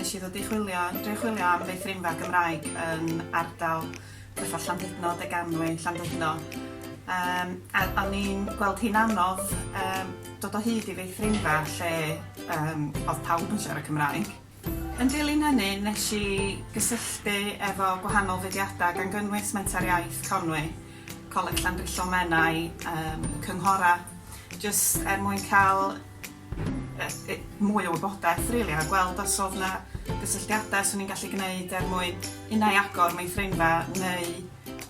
Nes i ddod i chwilio, dwi'n chwilio am feithrinfa Gymraeg yn ardal fatha Llandudno, Deganwy, Llandudno. Um, a o'n i'n gweld hi'n anodd um, dod o hyd i feithrinfa lle um, oedd pawb yn siarad Cymraeg. Yn dilyn hynny, nes i gysylltu efo gwahanol fudiadau gan gynnwys Menter Iaith Conwy, Coleg Llandrillo Menai, yym cynghorau, jyst er mwyn cael yy mwy o wybodaeth rili a gweld os o'dd 'na gysylltiadau 'swn i'n gallu gneud er mwyn unai agor meithrinfa neu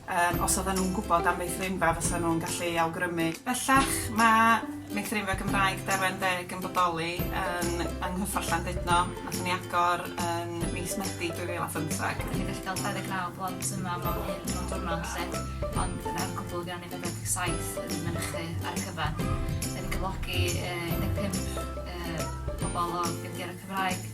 Yym, os oedden nhw'n gwybod am feithrinfa fysa nhw'n gallu ei awgrymu. Bellach, mae meithrinfa Gymraeg Derwen Deg yn bodoli yn yng Nghyffro Llandudno, nathon ni agor yn mis Medi 2015. Dyn ni'n gallu cael 29 blant yma mewn un mewn diwrnod 'lly, ond er cwbl fuon ni 47 yn mynychu ar y cyfan. 'Dyn ni'n cyflogi yy 15 yy pobl o gefndiroedd Cymraeg.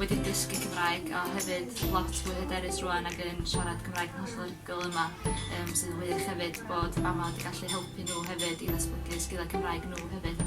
wedi dysgu Cymraeg a hefyd lot fwy hyderus rwan ag yn siarad Cymraeg yn hollol rhugl yma um, sy'n wych hefyd bod mama wedi gallu helpu nhw hefyd i ddatblygu sgiliau Cymraeg nhw hefyd.